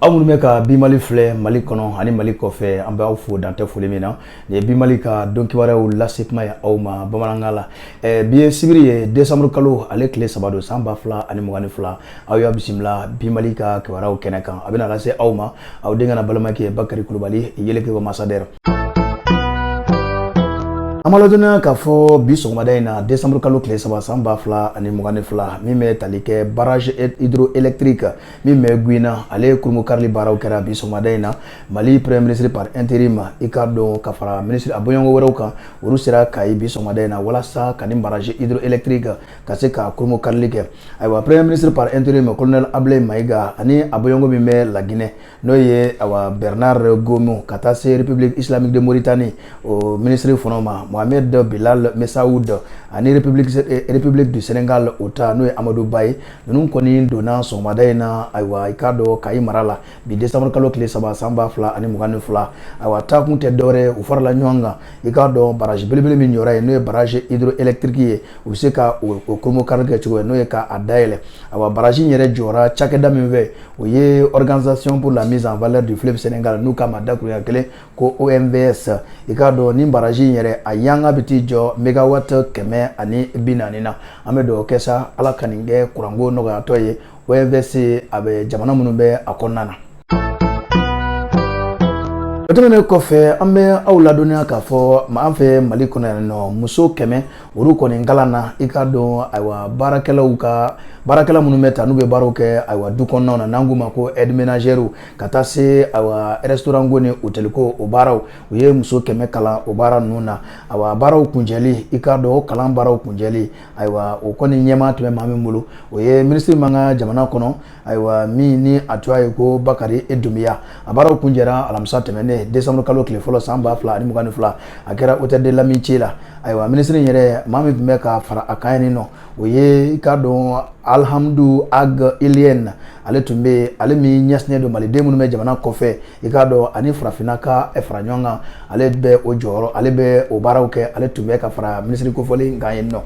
aw minnu bɛ ka bi mali filɛ mali kɔnɔ ani mali kɔfɛ an bɛ aw fo dan tɛ foli min na nin ye bi mali ka don kibaruyaw lase kuma ye aw ma bamanankan la eh, bi ye sibiri ye desanburu kalo ale tile saba don san ba fila ani mugan ni fila aw y'a bisimila bi mali ka kibaruyaw kɛnɛ kan a bɛna lase aw ma aw denkɛ n'aw balimakɛ bakari kulubali yeleke wa masadɛrɛ an b'aw ladɔnniya k'a fɔ bi sɔgɔmada in na desanburu kalo tile saba san ba fila ani mugan ni fila min bɛ tali kɛ barrage hydroélectrique min bɛ Gouina ale kurunbonkarili baaraw kɛra bi sɔgɔmada in na Mali premier ministre par intérim i k'a dɔn ka fara ministre a bɔɲɔgɔnko wɛrɛw kan olu sera Kayi bi sɔgɔmada in na walasa ka nin barrage hydroélectrique ka se k'a kurunbonkarili kɛ ayiwa premier ministre par intérim colonel Abulayi Mayiga ani a bɔɲɔgɔnko min bɛ La Guinée n'o ye awa bernard goumou ka taa se république islamique de mauritanie o minisiri fɔlɔ ma mohamed bilal messaoud ani république, eh, république du sénégal o ta n'o ye amadou ba ye ninnu kɔni donna sɔgɔmada in na ayiwa i k'a dɔn kayi mara la bi décembre kalo tile saba san ba fila ani mugan ni fila ayiwa taakun tɛ dɔwɛrɛ u farala ɲɔgɔn kan i k'a dɔn baraji belebele min jɔra yen n'o ye baraji hydroélectrique ye u bɛ se ka o kurunbonkari kɛ cogo ye n'o ye k'a dayɛlɛ awa baraji in yɛrɛ jɔra cakɛda min fɛ o ye organisation pour la mise en valeur du fleuve Sénégal n'u k'a ma dakuruɲɛ kelen ko OMVS i k'a dɔn nin baraji in yɛrɛ a fanga bɛ t'i jɔ megawatt kɛmɛ ani bi naani na an bɛ dugawu kɛ sa Ala ka nin kɛ kuranko nɔgɔyatɔ ye OMVS a bɛ jamana minnu bɛ a kɔnɔna na. O tɛmɛnen kɔfɛ an bɛ aw ladɔnniya k'a fɔ an fɛ Mali kɔnɔ yan nɔ muso kɛmɛ olu kɔni kalanna i k'a dɔn ayiwa baarakɛlaw ka baarakɛla minnu bɛ taa n'u bɛ baaraw kɛ ayiwa du kɔnɔnaw na n'an k'u ma ko aide ménagère ka taa se ayiwa restaurant ko ni hôtel ko o baaraw u ye muso kɛmɛ kalan o baara ninnu na ayiwa baaraw kuncɛli i k'a dɔn o kalan baaraw kuncɛli ayiwa o kɔni ɲɛmaa tun bɛ maa min bolo o ye minisiri min b'an ka jamana kɔnɔ ayiwa min ni a tɔgɔ ye ko bakari e doumbia a baaraw kuncɛra alamisa tɛmɛnen desanburu kalo tile fɔlɔ san ba fila ani mugan ni fila a kɛra hôtel de l'amitié la ayiwa minisiri in yɛrɛ maa min tun bɛ ka fara a kan yen nɔ o ye i k'a dɔn alhamdou ag ilyène ale tun bɛ ale min ɲɛsinnen don maliden minnu bɛ jamana kɔfɛ i k'a dɔn ani farafinna ka eh, fara ɲɔgɔn kan ale bɛ o jɔyɔrɔ ale bɛ o baaraw kɛ ale tun bɛ ka fara minisiri kofɔlen kan yen nɔ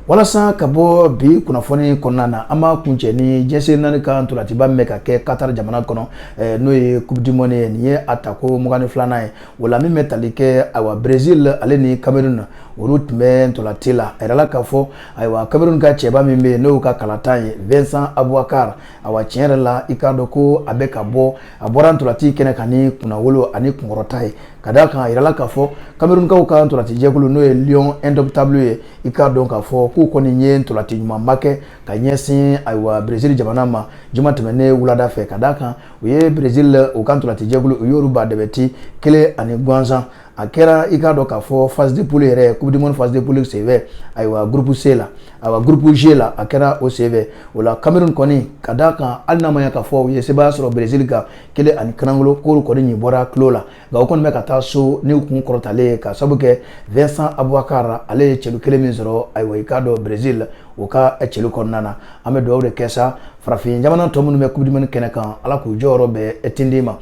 walasa ka bɔ bi kunnafoni kɔnɔna na an b'a kuncɛ ni jɛn sen naani ka ntolatiba min bɛ ka kɛ katari jamana kɔnɔ eh, n'o ye coupe du monde ye nin ye a tako mugan ni filanan ye o la min bɛ tali kɛ ayiwa brésil ale ni cameroun olu tun bɛ ntolati la a yirala k'a fɔ ayiwa cameroun ka cɛba min bɛ yen n'o ka kalatan ye vincent aboubakar Ayiwa tiɲɛ yɛrɛ la i k'a dɔn ko a bɛ ka bɔ a bɔra ntolati kɛnɛ kan ni kunnawolo ani kunkɔrɔta ye ka d'a kan a yirala k'a fɔ Camerounkaw ka ntolatijɛkulu n'o ye Lion Indomptable ye i k'a dɔn k'a fɔ k'u kɔni ye ntolati ɲumanba kɛ ka ɲɛsin ayiwa Brésil jamana ma juma tɛmɛnen wulada fɛ ka d'a kan u ye Brésil la u ka ntolatijɛkulu u y'olu ba dɛbɛ ti kelen ani gansan a kɛra i k'a dɔn k'a fɔ phase de poule yɛrɛ coupe du monde phase de poule senfɛ ayiwa groupe C la ayiwa groupe G la a kɛra o senfɛ o la Cameroun kɔni ka d'a kan hali n'a ma ɲɛ k'a fɔ u ye sebaaya sɔrɔ Brésil kan kelen ani kanangolo k'olu kɔni ɲi bɔra tulo la nka u kɔni bɛ ka taa so n'u kun kɔrɔtalen ye ka sabu kɛ Vincent Aboubakar ale ye celu kelen min sɔrɔ ayiwa i k'a dɔn Brésil o ka celu kɔnɔna na an bɛ dugawu de kɛ sa farafin jamana tɔ minnu bɛ coupe du monde kɛnɛ kan ala k'u jɔyɔrɔ bɛɛ tindi ma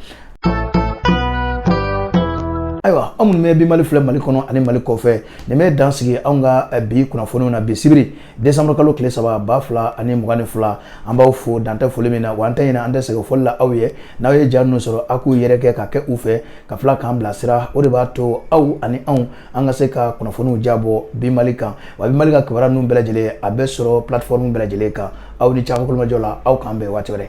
ayiwa anw minnu bɛ bi mali filɛ mali kɔnɔ ani mali kɔfɛ nin bɛ dan sigi anw ka eh, bi kunnafoniw na bi sibiri décembre kalo tile saba ba fila ani mugan ni fila an b'aw fo dantɛ foli min na wa an tɛ ɲinɛ an tɛ sɛgɛn foli la aw ye n'aw ye ja ninnu sɔrɔ aw k'u yɛrɛkɛ ka kɛ u fɛ ka tila k'an bilasira o de b'a to aw ani anw an ka se ka kunnafoniw jabɔ bi mali kan wa bi mali ka kibaruya ninnu bɛɛ lajɛlen a bɛ sɔrɔ plateforme bɛɛ lajɛlen kan aw ni ce aw ka tulomajɔ la aw k'an bɛn waati wɛrɛ